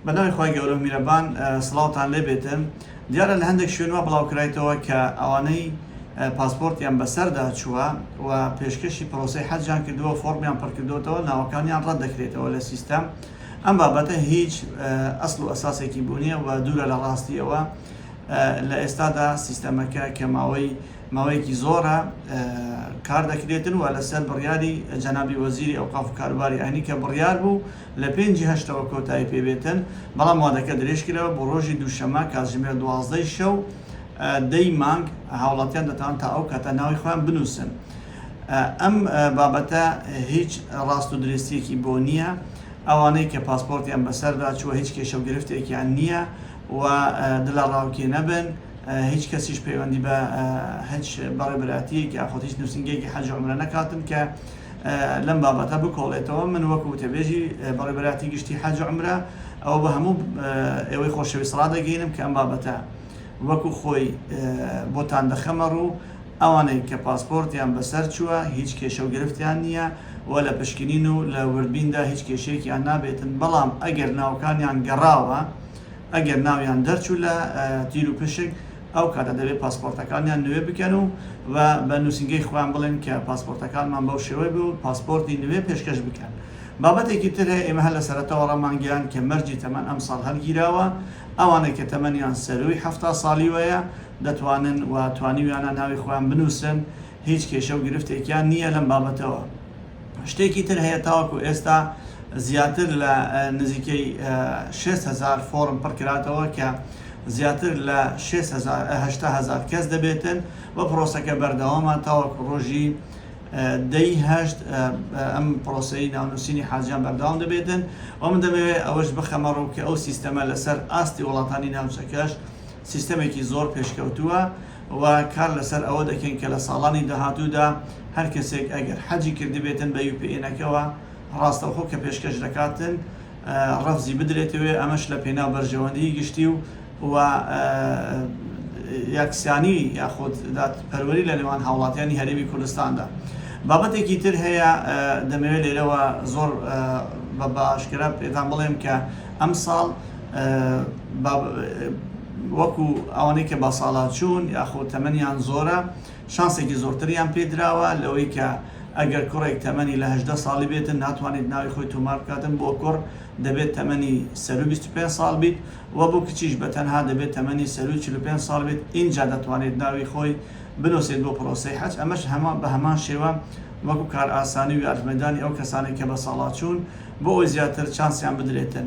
بە ناوی خوای گەورە و میرەبان سڵاوتان لێ بێتن دیارە لە هەندێک شوێن وا بڵاو کرایتەوە کە ئەوانەی پاسپۆرتیان بە سەردا چووە و پێشکەشی پرۆسەی حەجیان کردووە فۆڕمیان پڕ کردۆتەوە ناوەکانیان ڕەت دەکرێتەوە لە سیستەم ئەم بابەتە هیچ ئەسڵ و ئەساسێکی بوو نییە و دوورە لە ڕاستیەوە لە ئێستادا سیستەمەکە کە ماوەی ماوەیەکی زۆرە کار دەکرێتن و لەسەر بڕیاری جەنابی وەزیری ئەوقاف و کاروباری ئاینی کە بڕیار بوو لە پێنجی هەشتەوە کۆتایی پێ بێتن، بەڵام وادەکە درێژکرایەوە بۆ رۆژی دووشەمە کاتژمێر دوازدە ی شەو دە ی مانگ، هاوڵاتیان دەتوانن تا ئەو کاتە ناوی خۆیان بنووسن. ئەم بابەتە هیچ راست و درێستییەکی بۆ نییە، ئەوانەی کە پاسپۆرتیان بەسەردا چووە هیچ کێشە و گرفتێکیان نییە و دڵەڕاوکێ نەبن، هیچ کەسیش پەیوەندی بە هیچ بەڕێوبەرایەتییەک یاخود هیچ نووسینگەیەکی حەج و عومرە نەکاتن کە. لەم بابەتە بکۆڵێتەوە من وەک وتەبێژی بەڕێوەبەرایەتی گشتی حەج و عەمرە ئەوە بە هەموو ئێوەی خۆشەویست ڕادەگەینم کە ئەم بابەتە وەکو خۆی بۆتان دەخەمە ڕوو ئەوانەی کە پاسپۆرتیان بەسەر چووە هیچ کێشە و گرفتیان نییە و لە پشکنین و لە وردبیندا هیچ کێشەیەکیان نابێتن بەڵام ئەگەر ناوکانیان گەڕاوە ئەگەر ناویان دەرچوو لە تیروپشک ئەو کاتە دەبێت پاسپۆرتەکانیان نوێ بکەن و وە بە نووسینگەی خۆیان بڵێن کە پاسپۆرتەکانمان بەو شێوەی بوو و پاسپۆرتی نوێ پێشکەش بکەن. بابەتێکی تر هەیە ئێمە هەر لە سەرەتاوە ڕامانگەیاند کە مەرجی تەمەن ئەمساڵ هەلگیراوە، ئەوانەی کە تەمەنیان سەرووی حەفتا ساڵیوەیە دەتوانن و توانیویانە ناوی خۆیان بنووسن، هیچ کێشە و گرفتێکیان نییە لەم بابەتەوە. شتێکی تر هەیە تاوەکو ئێستا زیاتر لە نزیکەی شێست هەزار فۆڕم پڕکراتەوە کە زیاتر لە شێست هەزار ە هەشتا هەزار کەس دەبێتن و پڕۆسەکە بەردەوامە تاوەکو ڕۆژی دەی هەشت ئەم پڕۆسەی ناونووسینی حاجیان بەردەوام دەبێتن و من دەمەوێت ئەوەش بخەمە ڕوو کە ئەو سیستەمە لەسەر ئاستی وڵاتانی ناوچەکەش سیستەمێکی زۆر پێشکەوتووە و کار لەسەر ئەوە دەکەین کە لە ساڵانی داهاتوودا هەر کەسێک ئەگەر حەجی کردبێتن بە یوپیئێنەکەوە ڕاستەوخۆ کە پێشکەش دەکاتن ڕەفزی بدرێتەوێ ئەمەش لە پێناو بەرژەوەندیی گشتی و و یەکسانی یاخود دادپەروەری لە نێوان هاوڵاتیانی هەرێمی کوردستاندا. بابەتێکی تر هەیە دەمەوێ لێرەوە زۆر بە بە ئاشکرا پێتان بڵێم کە ئەمساڵ، وەکو ئەوانەی کە بەساڵاچوون یاخۆ تەمەنیان زۆرە شانسێکی زۆرتریان پێدراوە لەوەی کە ئەگەر کوڕێک تەمەنی لە هەژدە ساڵی بێتن ناتوانێت ناوی خۆی تۆمار بکاتن بۆ کوڕ دەبێت تەمەنی سەروو 25 ساڵ بیت و بۆ کچیش بە تەنها دەبێت تەمەنی سەرووی 45 ساڵ بێت ئینجا دەتوانێت ناوی خۆی بنووسێت بۆ پرۆسەی حەج ئەمەش هەمان بە هەمان شێوە وەکو کارئاسانی و یارمەدانی ئەو کەسانێک کە بەساڵاچوون بۆ ئەوەی زیاتر چانسیان بدرێتن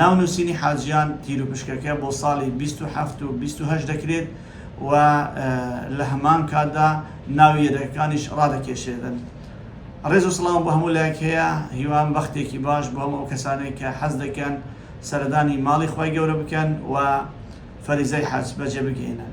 ناو نووسینی حاجیان تیروپشکەکە بۆ ساڵی بیست و حەفت و بیست و هەشت دەکرێت و لە هەمان کاتدا ناوی یەدەگەکانیش ڕادەکێشێدن. ڕێز و سڵاوم بۆ هەموو لایەک هەیە، هیوام بەختێکی باش بۆ هەموو ئەو کەسانەی کە حەز دەکەن سەردانی ماڵی خوای گەورە بکەن و فەریزەی حەج بەجێ بگەیەنن.